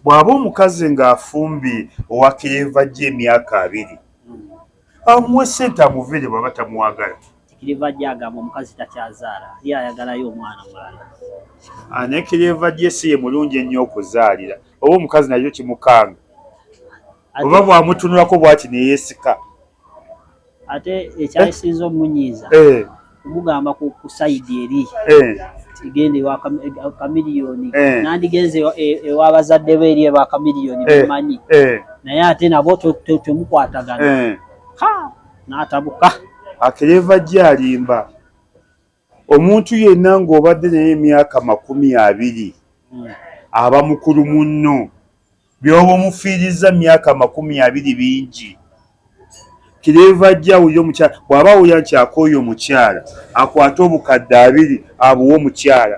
Bw'aba omukazi ng'afumbye owa keeva gye emyaka abiri amuwe ssente amuviire bw'aba tamwagala. Kikiriva gye agamba omukazi takyazaala ye ayagalayo omwana omulala. Ah, ne kiriva gye si ye mulungi ennyo okuzaalira oba omukazi nakyo kimukanga oba bw'amutunulako bw'ati ne yeesika. ate ekyayisiza eh? omunyiiza eh. kumugamba ku sayidi eri eh. tigenda ewa kamiliyoni nandigenze ewa bazadde be eri eba kamiliyoni bemanyi naye ate nabo temukwatagana n'atabuka akireva gye alimba omuntu yenna ng'obadde naye emyaka makumi abiri aba mukulu munno byoba omufiirizza myaka makumi abiri bingi kireeva ajja awulira omukyala bw'aba awulira nti akooye omukyala akwate obukadde abiri abuwe omukyala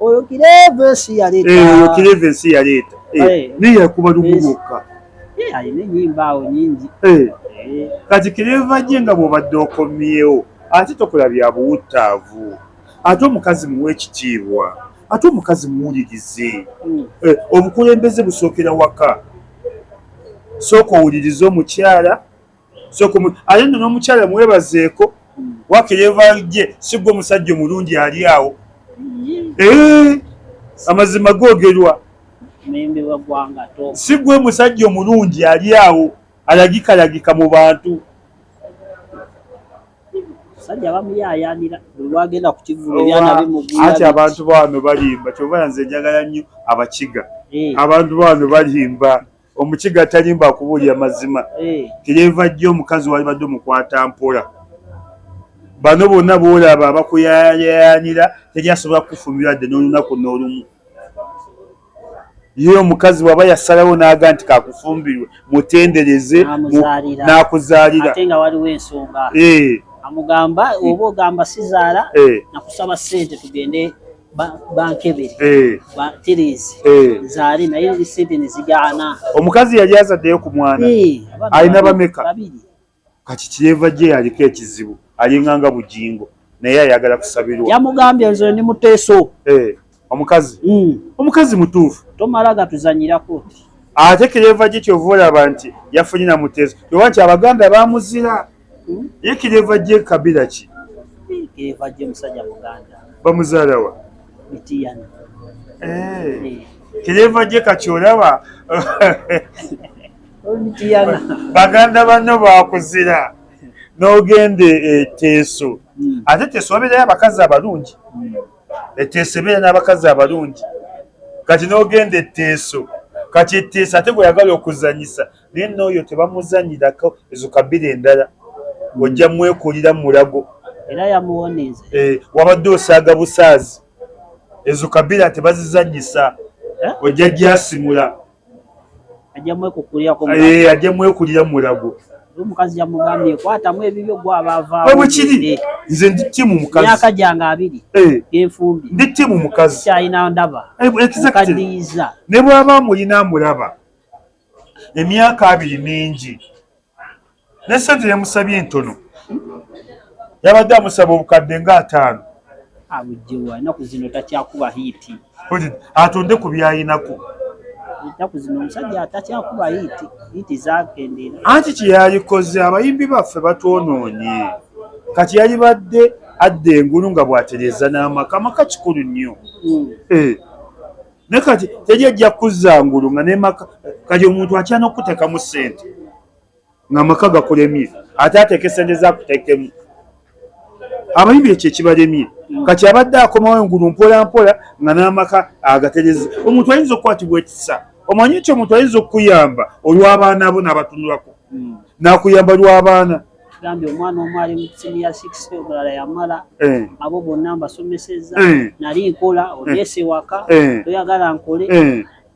oyo kireva ensi yaleeta eh, oyo kireva ensi yaleeta eh, eh. naye yakuba lumu lwokka alina enyimba awo nyingi kati kireva gye nga bwobadde okomyewo ate tokola bya buwuttaavu ate omukazi muwa ekitiibwa ate omukazi muwulirize hmm. obukulembeze busookera waka sooka owulirize omukyala so ate no n'omukyala mwebazeeko waka yevalje sigwa omusajja omulungi ali awo eh, amazima googerwa sigwa omusajja omulungi ali awo alagikalagika mu bantu abasajja abamu yayanira buli wagenda ku kivulu ebyana bimuguya ati abantu baano balimba kyova nze njagala nnyo abakiga eh. abantu baano balimba omukiga atalimba akubuulira mazima eh. tiryeva jjo omukazi walibadde omukwata mpola bano bonna boolaba abakuyayayanira teri asobola kukufumbira dde n'olunaku n'olumu ye omukazi bwaba yasalawo n'aga nti kakufumbirwe mutendereze n'akuzaalira eh. amugamba oba ogamba sizaala eh. nakusaba sente tugende bankebere eh. batiriizi eh. zaali naye lisente nezigaana omukazi yali azaddeyo ku mwana eh, alina bameka kati kyeva gye yaliko ekizibu alinganga bugingo naye ayagala kusabirwa yamugambye nze ndi muteeso omukazi hmm. omukazi mutuufu tomala gatuzanyirako ate kyeva gye kyova olaba nti yafunye na muteeso oba nti abaganda bamuzira Hmm? Ye kireva je kabila ki? Kireva je musajja muganda. Bamuzaala wa? Mitiyana. Eh. eh. Kireva je kati olaba. Mitiyana. Baganda banno bakuzira. N'ogenda eteeso. Eh, hmm. Ate teeso wabeerayo abakazi abalungi. Hmm. Eteeso ebeera n'abakazi abalungi. Kati n'ogenda etteeso. Kati etteeso ate gweyagala okuzanyisa. naye nooyo tebamuzanyirako ezo kabira endala hmm. ojja mwekulira mulago era yamuwoniza eh, wabadde osaaga busaazi ezo kabira tebazizanyisa eh? ojja gyasimula ajja mwekulira eh, mulago omukazi yamugambye ekwatamu ebibyo gwe abaavaawebukiri nze ndi timu mukazi myaka gyange abiri eh. enfumbi ndi timu mukazi kyalina ndaba ekadiyiza eh, ne bwaba amulina amulaba emyaka abiri mingi ne sente yamusabye entono yabadde amusaba obukadde nga ataano abujjewa enaku zino takyakuba hiiti atonde ku byayinako enaku zino omusajja atakyakuba hiiti hiiti zakendera anti kyeyayikoze abayimbi baffe batwonoonye kati yalibadde adda engulu nga bwatereza n'amaka amaka kikulu nnyo hmm. eh. naye kati teri ejja kuzza ngulu nga nemaka kati omuntu atya nokutekamu sente nga amaka gakulemye ate ateeke sente zakutekemu abayimbi ekyo ekibalemye kati abadde akomawo engulu mpolampola nga n'amaka agatereza omuntu ayinza okukwatibwa ekisa omanyi ekyo omuntu ayinza okukuyamba olw'abaana bo n'abatunulako hmm. n'akuyamba lw'abaana gambye omwana omu ali mu siniya six omulala yamala eh. abo bonna mbasomeseza eh. nali nkola eh. oneese waka toyagala nkole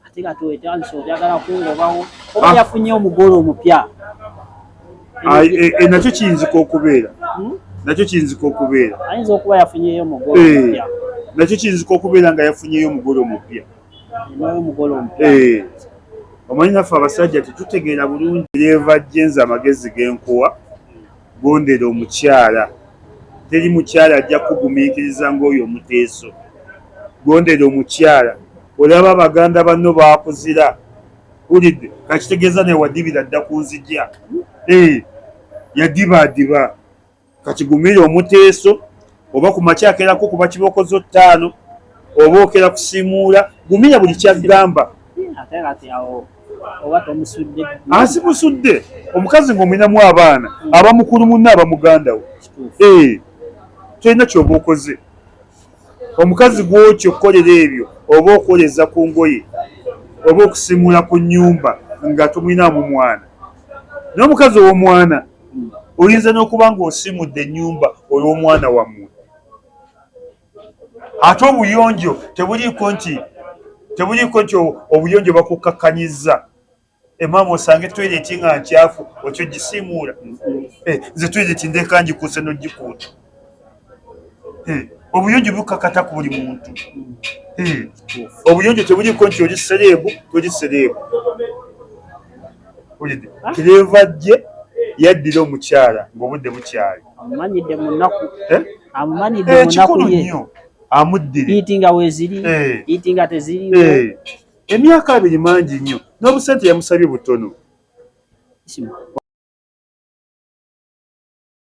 ate nga twetandisa oyagala kungobawo oba ah. yafunye omugole omupya nakyo kiyinzika okubeera hmm? nakyo kiyinzika okubeera ayinza okuba yafunyeyo omugole omupya nakyo kiyinzika okubeera nga yafunyeyo omugole omupya eh, omanyi naffe abasajja tetutegeera bulungi yeva jenza amagezi genkuwa gondera omukyala teri mukyala ajja kugumiikiriza ngaoyo omuteeso gondera omukyala olaba baganda banno bakuzira ulidde kakitegeeza newadibira dda kunzija eh, yadibaadiba kati gumira omuteeso oba ku makya akerako kuba kibooko zo ttaano oba okera kusimuula gumira buli kyagamba asimusudde omukazi ngaomulinamu abaana hmm. aba mukulu munna aba muganda wo eh, tolina kyoba okoze omukazi gwotyo okukolera ebyo oba okwoleza ku ngoye oba okusimuula ku nyumba nga tomulinaamu mwana naye omukazi owomwana oyinza n'okuba ng'osimudde ennyumba olw'omwana wammwe ate obuyonjo tebuliiko nti tebuliiko nti obuyonjo bakukkakkanyizza emaama osange toyireti nga nkyafu okyo gisiimuula eh, nze toyireti ndeeka ngikuuse n'ogikuuta eh, obuyonjo bukakata ku buli muntu eh, obuyonjo tebuliko nti oli sereebu toli sereebu ah. kireva jje yaddira omukyala ngaobudde bukyali amumanyidde munaku eh? amumanyidde munaku ye amuddire iti nga weziri iti nga teziriwo emyaka abiri mangi nnyo n'obusente yamusabye butono